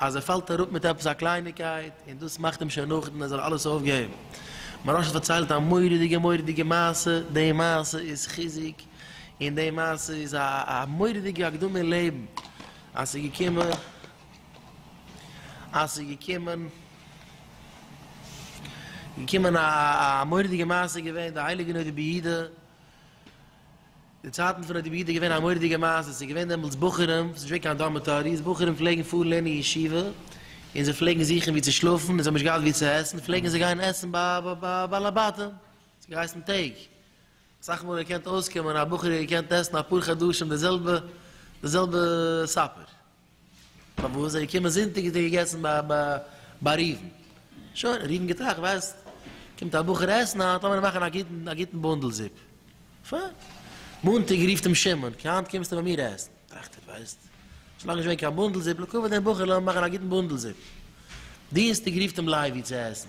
אז ער פאלט אראפ מיט עפעס א קלייניקייט און דאס מאכט אים שוין נאכדעם ער זאל אלעס אויפגעבן. מוהרא ש האט פארציילט א מורא'דיגע מורא'דיגע מעשה, די מעשה איז חיזוק און די מעשה איז א א מורא'דיגע הקדמה אין לעבן, אז ס'איז געקומען אז ס'איז געקומען געקומען א א מורא'דיגע מעשה איז געווען די הייליגע נדה ביהודה, די צייטן פון ר' דוד איז געווען א מורא'דיגע מעשה, ס'איז געווען דעמאלטס בחורים, ס'איז נישט געווען קיין דארמעטאריס, בחורים פלעגן פארן לערנען אין ישיבה, און זיי פלעגן זוכן ווי צו שלאפן, און זיי האבן נישט געהאט ווי צו עסן, פלעגן זיי גיין עסן ביי בעל הבתים, ס'האט געהייסן טעג. אסאך מאל איז געקענט אויסקומען אז א בחור איז געקענט עסן אפאר חדשים די זעלבע די זעלבע סאפער. פארוואס זיי געקומען זונטאג איז דער געגעסן ביי ראובן. שוין, ראובן געטראכט, ווייסט, קומט א בחור עסן היינט, לאמיר מאכן א גוטן א גוטן בונדל זופ. פיין. מאנטאג רופט אים שמעון, קע היינט קומסטו ביי מיר עסן. טראכט ער, ווייסט, שוין לאנג נישט געווען קיין בונדל זופ, לקבל דעם בחור לאמיר מאכן א גוטן בונדל זופ. דינסטאג רופט אים לייבי צו עסן.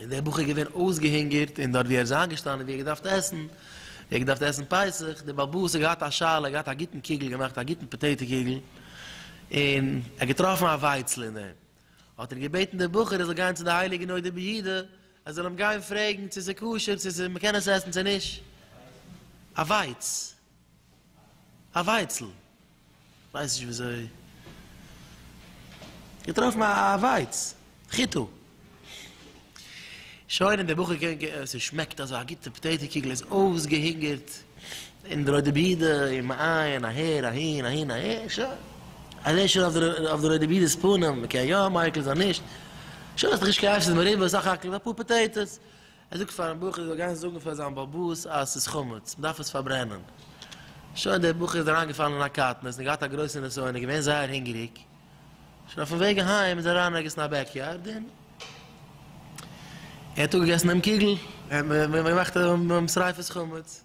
און דער בחור איז געווען אויסגעהונגערט, און דארט ווי ער איז איינגעשטאנען ווי ער האט געדארפט עסן, ווי ער האט געדארפט עסן פסח, דער באלבאס האט געהאט א שאלה, ער האט געהאט א גוטן קוגל געמאכט, א גוטן פאטעיטא קוגל, און ער האט געטראפן א ווייצל אין דעם, האט ער געבעטן דער בחור ער זאל גיין צו די הייליגע נודע ביהודה, ער זאל אים גיין פרעגן צו ס'איז כשר, צו מ'קען עס עסן צו נישט. א ווייץ. א ווייצל, כ'ווייס נישט וויאזוי, געטראפן א ווייץ, חיטה. שוין און דער בחור קען ג, ס'שמעקט אזוי, א גוטע פאטעיטא קוגל, ער איז אויסגעהונגערט, און די רויטע בידע, און מ'איין, אהער, אהין, אהין, אהער, שוין, ער זעהט שוין אויף די רויטע בידע'ס פנים, מ'קען יא מייקל זיין נישט, שוין, ס'איז דאך נישט קיין עשר מריבות, סך הכל אפאר פאטעיטאס, ער זאגט פארן בחור ער זאל גיין זאגן פאר זיין באבוס אז ס'איז חמץ, מ'דארף עס פארברענען. שוין דער בחור איז אריינגעפאלן אין א קטנות און געהאט א גרויסע נסיון און געווען זייער הונגעריג. שוין אויפן וועג אהיים איז ער אריין ערגעץ אין א בעקיארד און ער האט אפגעגעסן דעם קוגל, מ'האט געמאכט שריפת חמץ.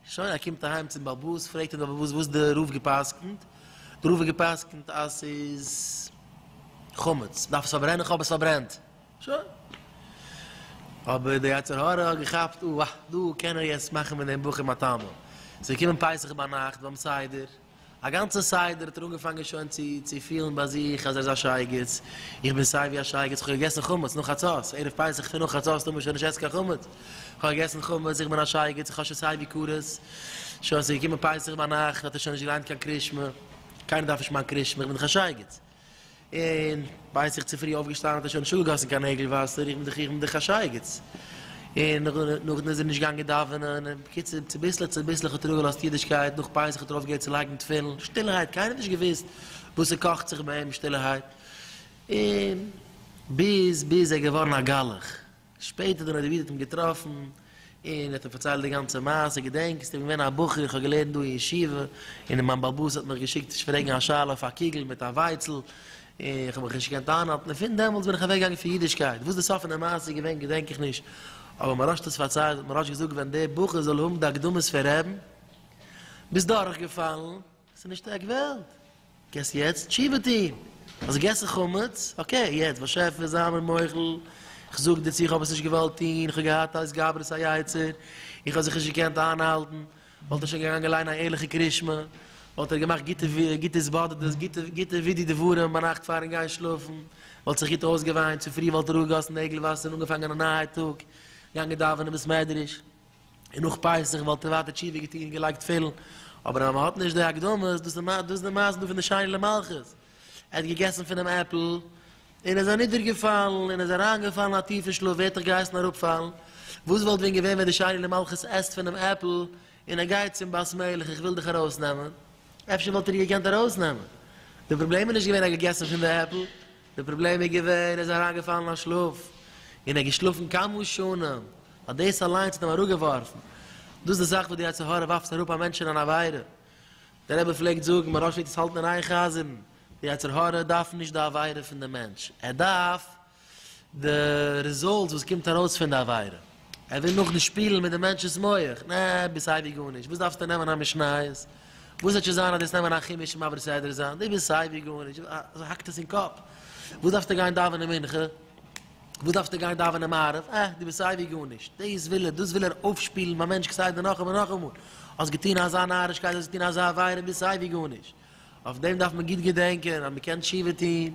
שוין ער קומט אהיים צום באבוס פרעגט אים די באבוס וואס די רב געפסקנט, די רב האט געפסקנט אז ס'איז חמץ מ'דארף עס פארברענען כ'האב עס פארברענט שוין, אבער די יצר הרע האט געכאפט אה דא קען ער יעצט מאכן פון דעם בחור מתנה, ס'איז געקומען פסח ביינאכט ביים סדר. א גאנצע סדר האט ער אנגעפאנגען שוין צו צו פילן ביי זיך אז ער איז א שייגעץ, איך בין סייווי א שייגעץ, כ'האב געגעסן חמץ נאך חצות, ערב פסח פון נאך חצות טאר מען שוין נישט עסן קיין חמץ, כ'האב געגעסן חמץ, איך בין א שייגעץ, איך האב שוין סייווי קארס, שוין ס'איז געקומען פסח ביינאכט האט ער שוין נישט געליינט קיין קרישמע, קיינער דארף נישט מיין קרישמע, איך בין דאך א שייגעץ. און בעת איך צופרי אויפגעשטאנען האט ער שוין נישט אפגעגאסן קיין נעגל וואסער, איך בין דאך איך בין דאך א שייגעץ. און נאכדעם איז ער נישט געגאנגען דאווענען, און בקיצור צוביסלעך צוביסלעך האט ער אפגעלאזט אידישקייט, נאך פסח האט ער אויפגעהערט צו לייגן תפילין, שטילערהייט, קיינער האט נישט געוואוסט וואס ס'קאכט זיך ביי אים, שטילערהייט, און ביז ביז ער געווארן א גלח. שפעטער דעם האט דער וויזניץ אים געטראפן און האט אים פארציילט די גאנצע מעשה, געדענקסט? איך בין געווען א בחור, איך האב געלערנט דא אין ישיבה, און מיין בעל בית האט מיך געשיקט נישט פרעגן א שאלה אויף א קוגל מיט א ווייצל, און איך האב מיך נישט געקענט איינהאלטן, און פון דעמאלטס בין איך אוועק געגאנגען פון אידישקייט, וואס די סוף פון די מעשה איז געווען געדענק איך נישט, אבער מהרש האט עס פארציילט, האט מהרש געזאגט ווען דער בחור זאל האבן די אקדמות פון רעבן, ביזט דורכגעפאלן. ס'איז נישט עק וועלט. געסט יעצט תשובה טון. האסט געגעסן חמץ, אקעי, יעצט באשעפער זיי מיר מוחל, איך זאג דיר צו איך האב עס נישט געוואלט טון, איך האב געהאט א התגברות היצר, איך האב זיך נישט געקענט איינהאלטן, וואלט ער שוין געגאנגען ליינען א ערליכע קרישמע, וואלט ער געמאכט גוטע גוטע התבודדות, גוטע גוטע ווידוי דבורים ביינאכט פארן גיין שלאפן, וואלט זיך גוט אויסגעוויינט, צופרי וואלט ער אפגעגאסן נעגל וואסער און אנגעפאנגען א נייע טאג, געגאנגען דאווענען בית מדרש. און נאך פסח וואלט ער ווייטער תשובה געטון און געלייגט תפילין, אבער אז מען האט נישט די הקדמות, דאס איז די מעשה דא פון די שני למלכות, ער האט געגעסן פונעם עפל און איז אנידערגעפאלן און איז אריינגעפאלן אין א טיפן שלאף, ווער האט דיך געהייסן אראפפאלן? וואס וואלט ווען געווען ווען די שני למלכות עסט פונעם עפל און ער גייט צום בת מלך איך וויל דיך ארויסנעמען, אפשר וואלט ער איר געקענט ארויסנעמען, די פראבלעם איז נישט געווען ער האט געגעסן פון די עפל, די פראבלעם איז געווען ער איז אריינגעפאלן אין שלאף און ער האט געשלאפן כמה שנים, האט דאס אליינס האט אים אראפגעווארפן, דאס איז די זאך וואס די יצר הרע ווארפט אראפ א מענטש אין אן עבירה, דער רבי פלעגט זאגן מען דארף נישט עס האלטן אין איין חזר'ן, די יצר הרע דארף נישט די עבירה פון די מענטש, ער דארף די ריזאלטס וואס קומט ארויס פון די עבירה. ער וויל נאכנישט שפילן מיט די מענטשנ'ס מח, נע, ביסט סיי ווי גארנישט, וואס דארפסטו נעמען א משניות, וואס וועט שוין זיין אז דו וועסט נעמען א חומש און מעביר סדר זיין, דו ביסט סיי ווי גארנישט, אזוי האקט עס אין קאפ, וואס דארפסטו גיין דאווענען מנחה, וואס דארפסטו גיין דאווענען מעריב, אה, דו ביסט סיי ווי גארנישט, דאס וויל ער, דאס וויל ער אויפשפילן ביים מענטש כסדר נאכאמאל נאכאמאל, האסט געטון אזא נארישקייט, האסט געטון אזא עבירה, ביסט סיי ווי גארנישט, אויף דעם דארף מען גוט געדענקען אז מען קען תשובה טון,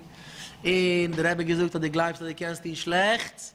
און דער רבי האט געזאגט אז דו גלייבסט אז דו קענסט טון שלעכטס,